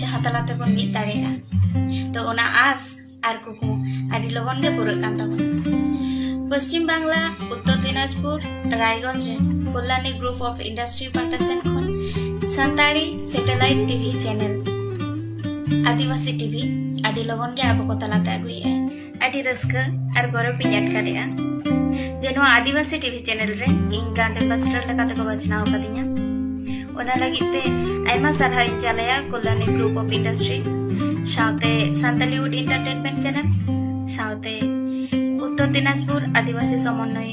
ᱡᱟᱦᱟᱸ ᱛᱟᱞᱟ ᱛᱮᱵᱚᱱ ᱢᱤᱫ ᱫᱟᱲᱮᱭᱟᱜᱼᱟ ᱛᱚ ᱚᱱᱟ ᱟᱥ ᱟᱨ ᱠᱩᱠᱢᱩ ᱟᱹᱰᱤ ᱞᱚᱜᱚᱱ ᱜᱮ ᱯᱩᱨᱟᱹᱜ ᱠᱟᱱ ᱛᱟᱵᱚᱱᱟ ᱯᱚᱥᱪᱤᱢ ᱵᱟᱝᱞᱟ ᱩᱛᱛᱚᱨ ᱫᱤᱱᱟᱡᱽᱯᱩᱨ ᱨᱟᱭᱜᱚᱸᱡᱽ ᱨᱮ ᱠᱚᱞᱞᱟᱱᱤ ᱜᱨᱩᱯ ᱚᱯᱷ ᱤᱱᱰᱟᱥᱴᱨᱤ ᱯᱟᱦᱴᱟ ᱥᱮᱱ ᱠᱷᱚᱱ Santali satellite TV channel Adivasi TV ᱟᱹᱰᱤ ᱞᱚᱜᱚᱱ ᱜᱮ ᱟᱵᱚ ᱠᱚ ᱛᱟᱞᱟᱛᱮ ᱟᱹᱜᱩᱭᱮᱫᱼᱟ ᱟᱹᱰᱤ ᱨᱟᱹᱥᱠᱟᱹ ᱟᱨ ᱜᱚᱨᱚᱵᱽ ᱤᱧ ᱟᱴᱠᱟᱨᱮᱜᱼᱟ ᱡᱮ ᱱᱚᱣᱟ ᱟᱹᱫᱤᱵᱟᱹᱥᱤ ᱴᱤᱵᱷᱤ ᱪᱮᱱᱮᱞ ᱨᱮ ᱤᱧ ᱵᱨᱟᱱᱰ ᱮᱢᱵᱟᱥᱮᱰᱚᱨ ᱞᱮᱠᱟᱛᱮ ᱠᱚ ᱵᱟᱪᱷᱱᱟᱣ ᱟᱠᱟᱫᱤᱧᱟ ᱚᱱᱟ ᱞᱟᱹᱜᱤᱫ ᱛᱮ ᱟᱭᱢᱟ ᱥᱟᱨᱦᱟᱣ ᱤᱧ ᱪᱟᱞᱟᱭᱟ ᱠᱚᱞᱟᱱᱤ ᱜᱨᱩᱯ ᱚᱯᱷ ᱤᱱᱰᱟᱥᱴᱨᱤ ᱥᱟᱶᱛᱮ ᱥᱟᱱᱛᱟᱞᱤᱣᱩᱰ ᱤᱱᱴᱟᱨᱴᱮᱱᱢᱮᱱᱴ ᱪᱮᱱᱮᱞ ᱥᱟᱶᱛᱮ ᱩᱛᱛᱚᱨ ᱫᱤᱱᱟᱡᱽᱯᱩᱨ ᱟᱹᱫᱤᱵᱟᱹᱥᱤ ᱥᱚᱢᱚᱱᱱᱚᱭ